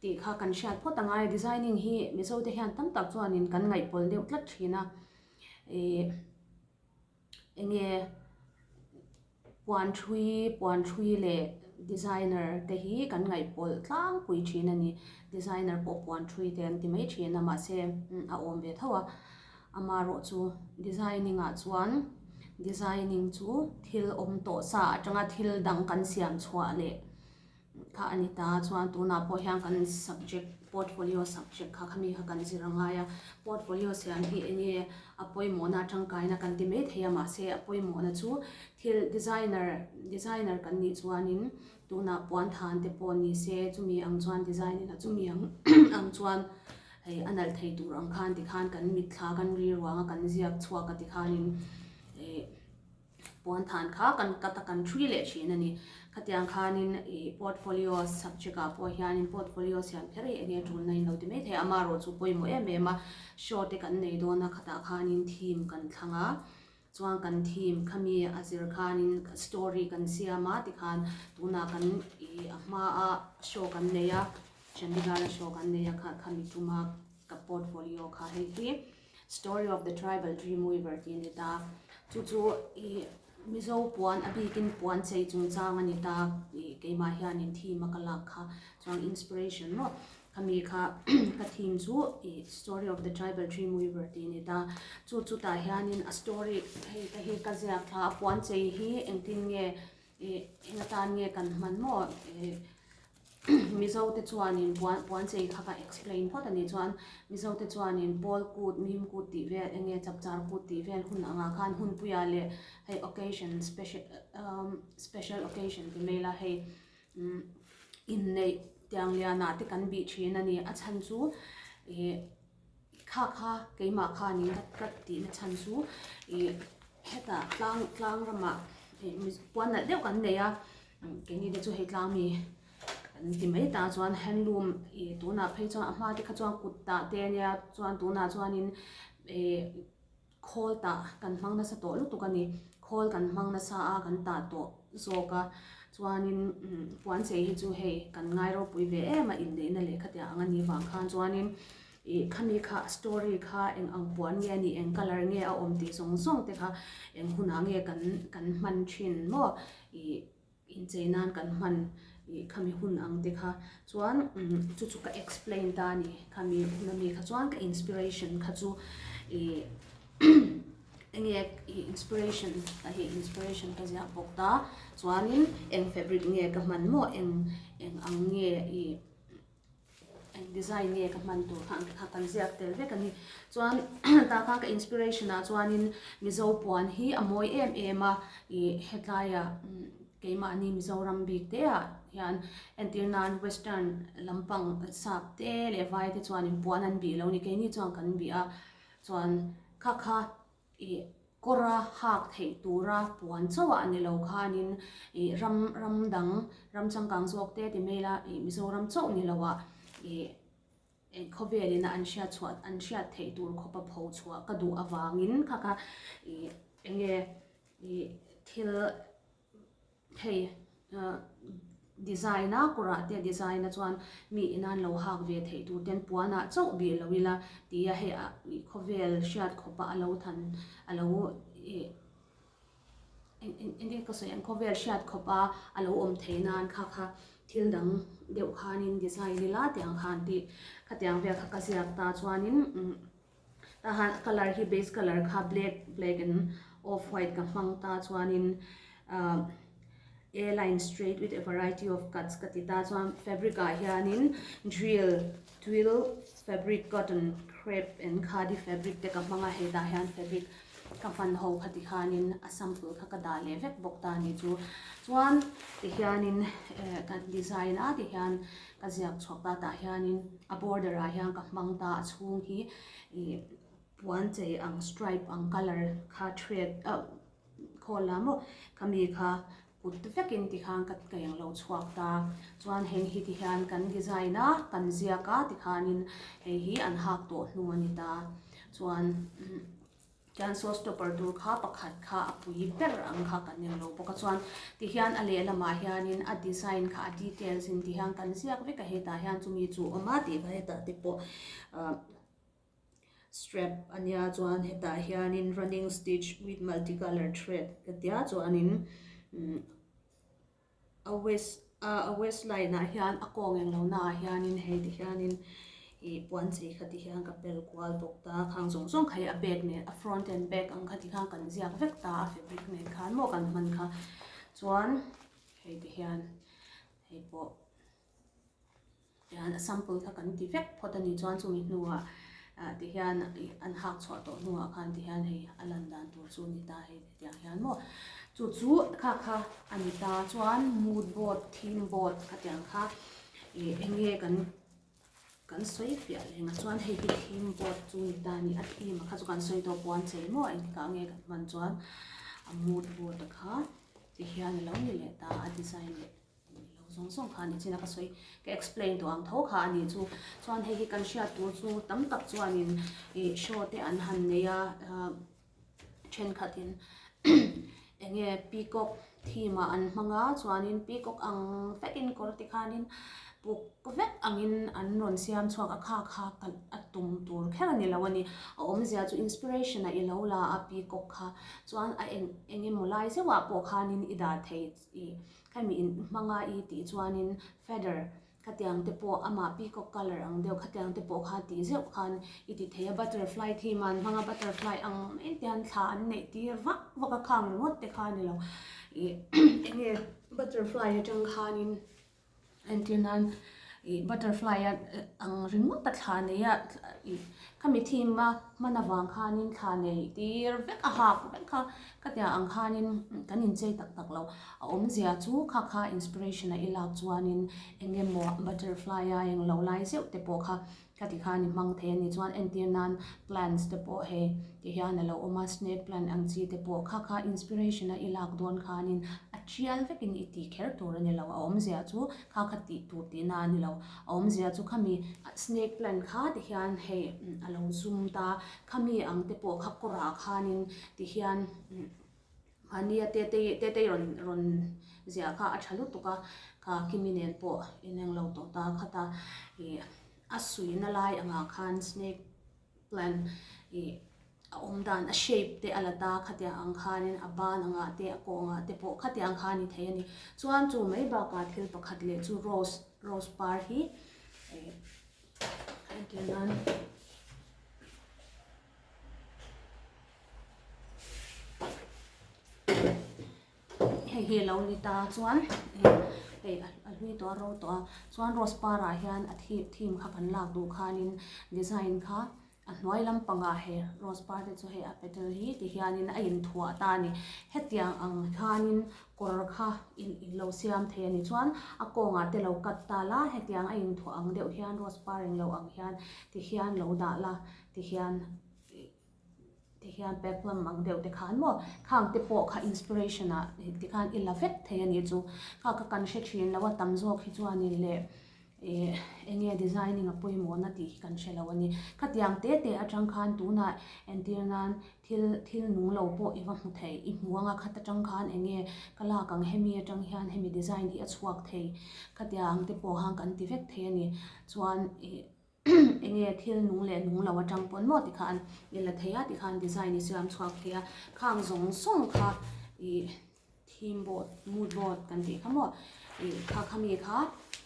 Tih kha kan hriat phawt a ngai. Designing hi Mizote hian tam tak chuanin kan ngaihpawlh deuh tlat thin a. Ih eng nge puan hrui puan hrui leh designer te hi kan ngaihpawlh tlangpui thin a ni. Designer pawh puan hrui te an ti mai thin a mahse a awm ve tho a. Amarawh chu designing ah chuan designing chu thil awm tawh sa atanga thil dang kan siam chhuah leh. Kha a ni ta chuan tunah pawh hian kan subject portfolio subject kha khami kha kan zir a ngai a. Portfolio siam hi enge a pawimawhna tangkaina kan ti mai thei a mahse a pawimawhna chu thil designer designer kan nih chuanin tunah puan than te pawh ni se chumi ang chuan design ina chumi ang ang chuan hei a nalh thei tur ang khan tikhan kan mitthla kan rilruanga kan ziak chhuak a tikhanin ih-- Puan than kha kan cut a kan hrui leh thin a ni. Khatiang khanin ih portfolios subject ah pawh hianin portfolio siam kher hi eng nge tulna inlo ti maithei a amarawh chu pawimawh em em a show te kan nei dawn a khatah khanin theme kan thlang a chuan kan theme khami a zir khanin story kan siam a tikhan tunah kan ih a hmaa show kan nei a Chandigarh a show kan nei a kha khami tuma ka portfolio kha hei hi. Story of the Tribal Dreamweaver tih a ni ta, chu chu ih Mizo puan a bikin puan chei chungchang a ni ta, ih keimah hianin theme a ka lak kha chuan inspiration rawh khami kha ka theme chu ih Story of the Tribal Dreamweaver tih a ni ta, chu chutah hianin a story hei ka hi ka ziak thla a puan chei hi engtin nge ih eng atan nge kan hman maw ih Mizo te chuanin puan puan chei kha ka explain phawt a nih chuan Mizo te chuanin Pawl kut, Mim kut tih vel eng nge chap char kut tih vel hun angah khan hunpuia leh hei occasion special umm special occasion ti mai ila hei umm inneih tiangliana te kan bih thin a ni a chhan chu ihh. Kha kha keimah khan in rat rat tih na chhan chu ih heta tlang tlang ramah puan nalh deuh kan nei a keini te chu hei tlang mi kan ti mai ta chuan handloom ih tunah phei chuan a hma te kha chuan kut tah te nia chuan tunah chuan in ih-- Khawl tah kan hmang nasa tawh lutuk a ni. Khawl kan hmang nasa a kan tah tawh zawk a, chuanin Puanchei hi chu hei kan ngai ropui ve em a inneihna leh khatiang anga ni vang khan chuanin ih khami kha story kha eng ang puan nge a ni, eng colour nge a awm tih zawng zawng te kha eng hunah nge kan kan hman thin maw ih. inchei nan kan hman ih khami hun ang te kha chuan chu chu ka explain ta a ni khami hun ami kha chuan ka inspiration kha chu ih eng nge ih inspiration ka hi inspiration ka ziah bawk ta chuanin eng fabric nge ka hman maw eng eng ang nge ih Design nge ka hman tur kha a kal ziak tel vek a ni. Chuan ta kha ka inspiration ah chuanin Mizo puan hi a mawi em em a. Ih hetilaia keimahni Mizoram bik te ah hian entir nan western lampang sap te leh vai te chuan puan an bih lo ni. Keini chuan kan bih a chuan kha kha. i kawra hak theih tura puan chauh a ni lo khanin i ram ram dang ram changkang zawk te ti mai la i Mizoram chauh ni lo a i eng khawvelin a an hriat chhuah an hriat theih tur khawpa pho chhuah ka duh avangin kha kha i enge i thil Hei design a, kawrah te design a chuan mi in a an lo hak ve theih tur ten puan ah chauh bih lo ila ti a hei ah khawvel hriat khawp a a lo than a lo ih engti ka sawi ang khawvel hriat khawp a a lo awm thei nan kha kha thil dang deuh khan in design ila tiang khan tih khatiang vel kha ka ziak ta chuan in umm. A han colour hi base colour kha black black and off white ka hmang ta chuanin ah a line straight with a variety of cuts ka ti ta chuan fabric ah hianin drill twill fabric cotton crepe and khadi fabric te ka hmang a hetah hian fabric ka hman ho kha ti khanin a sample kha ka dah leh vek bawk ta ni chu chuan ti hianin eh kan design a ti hian. ka ziak chhuak ta tah hianin a border ah hian ka hmang ta a chhung hi ih puan chei ang stripe ang colour kha thread ah khawl la mawh ka mi kha kut ta takin ti khan ka ka eng lo chhuak ta chuan heng hi ti hian kan design a kan ziak a ti khanin hei hi an hak tawh hnung a ni ta chuan. Chuan saw stopper dur kha pakhat kha a pui ber ang kha kan nem lo bawk a chuan tihian a lehlam ah hianin a design kha a details in tihian kan ziak vek a hetah hian chumi chu a awm a tih kha hetah te pawh ah strap a nia chuan hetah hianin running stitch with multi colour thread ka tia chuanin umm-- A west a a west line ah hian a kawng eng lo naah hianin hei ti hianin ih puan chei kha ti hian ka pel kual bawk ta khang zawng zawng kha hi a back nen a front and back ang kha ti khan kan ziak vek ta a fabric nen khan maw kan hman kha chuan hei ti hian hei pawh. Hian a sample kha kan ti vek phawt a ni chuan chumi hnuah ti hian an hak chhuah tawh hnuah khan ti hian hei a lan dan tur chu a ni ta hei ti ang hian maw. Chu chu kha kha a ni ta chuan mood board, theme board a ti ang kha ih eng nge kan kan sawi fiah leh ngah chuan hei hi theme board chu a ni ta a ni a theme a kha chu kan sawi tawh pawh an chei maw engti kah nge kan hman chuan a mood board a kha ti hian a lo ni leh ta a design leh. Tih lo zawng zawng kha a ni chin a ka sawi ka explain tawh ang tho kha a ni chu chuan hei hi kan hriat tur chu tam tak chuanin ih show te an han nei a thenkhatin eng nge peacock theme ah an hmang a chuanin peacock ang vekin kawr te khanin puk vek angin an rawn siam chhuak a kha kha kalh a tum tur kher a ni lo a ni a awmzia chu inspiration a i lo la a peacock kha chuan a eng eng emaw lai zeuhah pawh khanin i dah thei ih. Khami in hmanga i tih chuanin feather khatiang te pawh amah peacock colour ang deuh khatiang te pawh kha tih zeuh khan i ti thei a butterfly theme a an hmang a butterfly ang mai te hian thla an neih tir vak vak a khang ringawt te kha a ni lo ih enge butterfly atang khanin Entir nan ih butterfly a ang ringawt a thla nei a ih ka mi thim a hman avang khanin thla nei tir vek a hak vek a ka tiang ang khanin kan inchei tak tak lo a awmzia chu kha kha inspiration a i lak chuanin eng emaw butterfly a eng lo lai zeuh te pawh kha. Khati khan i hmang thei a ni chuan entir nan plants te pawh hei tih hian a lo awm a snake plant ang chi te pawh kha kha inspiration a i lak dawn khanin a tial vekin i tih kher tur a ni lo a awmzia chu kha kha tih tur tih na a ni lo a awmzia chu khami snake plant kha te hian hei a lo zum ta khami ang te pawh kha kawrah khanin ti hian. Mahnia Tetei Tetei rawn rawn ziah kha a tha lutuk a, ka Kimi nen pawh in eng lo tawh ta khat a, ih a sui na lai angah khan snake plant ih a awm dan a shape te a la ta khatiang ang khan in a ban angah te a kaw angah te pawh khatiang khan i thei a ni. Chuan chu mai bakah thil pakhat leh chu rose rose par hi ih a tiang nan. hei hi a lo ni ta chuan hei a hlui tawh a ro tawh a chuan rose par ah hian a theme theme kha kan lak duh khan in design kha a hnuai lam pang ah hei rose par te chu hei a petal hi ti hian in a in thuah a ta a ni hetiang ang khan in kawr kha in in lo siam thei a ni chuan a kawng ah te lo cut ta la hetiang a in thuah ang deuh hian rose par in lo ang hian ti hian lo dah la. Tihian tihian pek lam ang deuh te khan maw khang te pawh kha inspiration ah ti khan i la vek thei a nih chu kha ka kan hre thin lo a tam zawk hi chuanin le eh enge designing a pawimawhna tih hi kan hrelo a ni khatiang te te atang khan tunah entir nan thil thil nung lo pawh i va hmu thei i hmu anga khat atang khan enge ka lak ang hemi atang hian hemi design hi a chhuak thei khatiang te pawh khan kan ti vek thei a ni chuan ih. Enge thil nung leh nung lo atang pawn maw tikha an i la thei a tikha an design i sir an chhuak thei a, khang zawng zawng kha ih theme board, mood board kan tih kha maw ih kha khami kha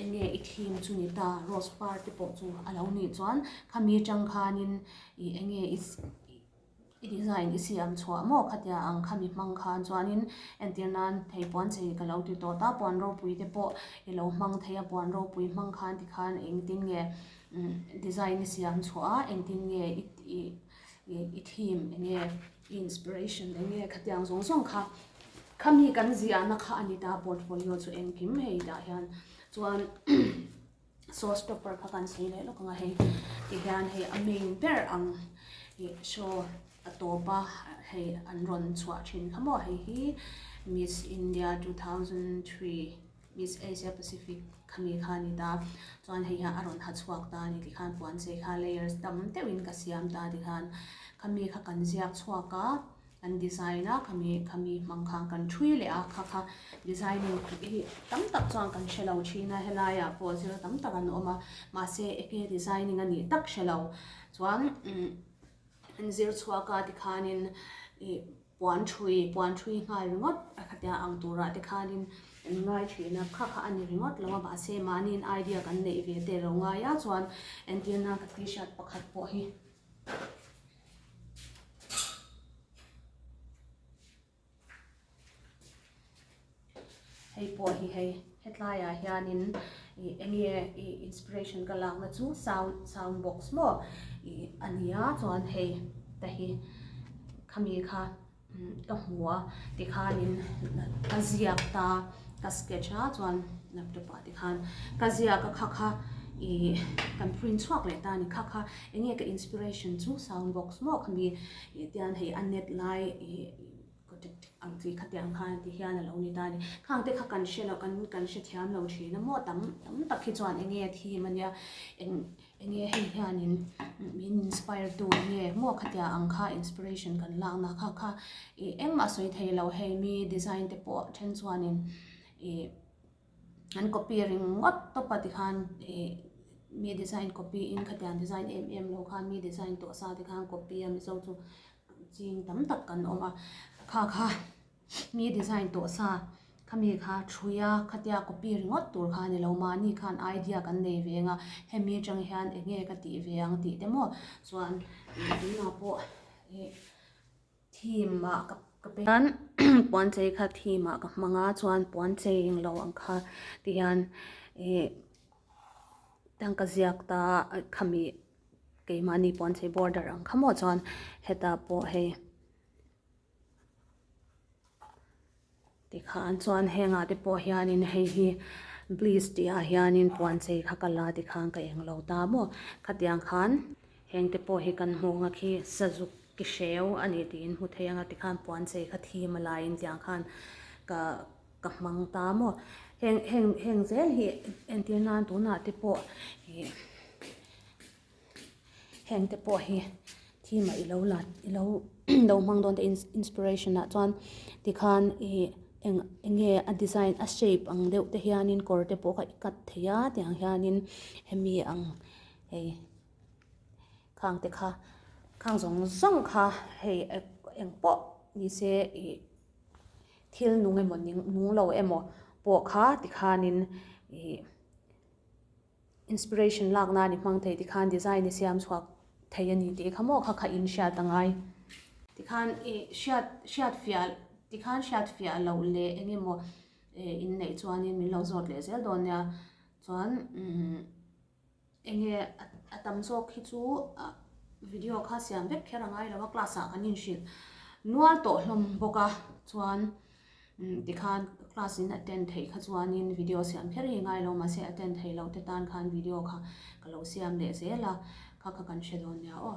enge i theme chu ni ta rose par te pawh chu a lo nih chuan khami tang khanin ih enge i ih. I design i siam chhuah maw khatia ang kha mi hmang khan chuanin entir nan thei puan chei ka lo ti tawh ta puan ropui te pawh i lo hmang thei a puan ropui hmang khan ti khan engtin nge design i siam chhuah a engtin nge i theme enge i inspiration enge khatia ang zawng zawng kha kha mi kan ziahna kha a ni ta portfolio chu engkim hei dah hian chuan show stopper kha kan sawi leh lawk ang a hei ti hian hei a ming ber ang ih show a tawp a hei an rawn chhuah thin kha maw hei hi miss india two thousand three miss asia pacific kha mi kha a ni ta chuan hei hian a rawn ha chhuak ta a ni tih khan puan che kha layers tam deuh in ka siam ta a ti khan kha mi kha kan ziak chhuak a. Kan design a, khami khami hmang kha kan thui leh a, kha kha designing kut hi tam tak chuan kan hre lo thin a, helai ah pawh zir tam tak an awm a, mahse enge designing a nih tak hre lo chuan an zir chhuak a ti khanin ih puan thui puan thui nghal ringawt a khatia ang turah te khanin an ngai thin a, kha kha a ni ringawt lo a mahse mahniin idea kan neih ve te lo ngai a chuan entirna ka t-shirt pakhat pawh hi. Hei pawh hi hei, hetlaiah hianin ih enge ih inspiration ka lakna chu sound sound box maw ih a nia chuan hei te hi khami kha. Ka hmu a tikhanin ka ziak ta, ka sketch a chuan laptop ah tikhan ka ziak a kha kha ih kan print chhuak leh ta ni kha kha enge ka inspiration chu sound box maw ka ni ih tian hei a net lai ih kaw dik dik ang tih kha tiang khan ti hian a lo ni ta ni khang te kha kan hre lo kan hre thiam lo thin a maw tam tam tak hi chuan enge a thim a nia eng Enge hei hianin min inspire tu nge maw khatia ang kha inspiration kan lakna kha kha ih eng mah sawi thei lo hei mi design te pawh then chuanin ih an copy ring ngawt tawp a tikhan ih mi design copy in khatia design em em lo khan mi design tawh sa te khan copy a Mizo chu ching tam tak kan awm a kha kha. mi design tawh sa khami kha thrui a khatia copy ringawt tur kha a ni lo mahni khan idea kan nei ve ang a hemi atang hian eng nge ka tih ve ang tih te maw chuan tunah pawh ih theme ah ka ka pe chuan puan chei kha theme ah ka hmang a chuan puan chei eng lo ang kha ti hian ih hetiang ka ziak ta a khami keimahni puan chei border ang kha maw chuan heta pawh hei. Tikhan chuan hengah te pawh hianin hei hi bliss tih ah hianin puan chei kha ka la ti khan ka englo ta maw khatiang khan heng te pawh hi kan hmuh anga khi sazuk ki hreu a ni tiin hmu thei anga tikhan puan chei kha thim a laiin tiang khan ka ka hmang ta maw heng heng heng zel hi entir nan tunah te pawh ih-- hengte pawh hi theme ah i lo la i lo i lo hmang dawn teh in inspiration ah chuan tikhan ih eng eng nge a design a shape ang deuh te hianin kawr te pawh kha i cut thei a tih ang hianin hemi ang hei khang te kha khang zawng zawng kha hei eng pawh ni se ih thil nung emaw ning nung lo emaw pawh kha tikhanin ih-- Inspiration lakna a ni hmang thei tikhan design i siam chhuak thei a ni tih i khamawh kha kha in hriat a ngai. Tikhan i hriat hriat fiah tikhan hriat fiah loh leh eng emaw in neih chuanin min lo zawt leh zel dawn nia. Chuan eng nge a tam zawk khi chu video kha siam vek kher a ngai lo a, class ah kan inhrilh nual tawh hlawm bawk a. Chuan. Tikhan class in attend theih kha chuanin video siam hlir hi ngai lo mahse attend theih loh te tan khan video kha ka lo siam leh zel a, kha kha kan hre dawn nia aw.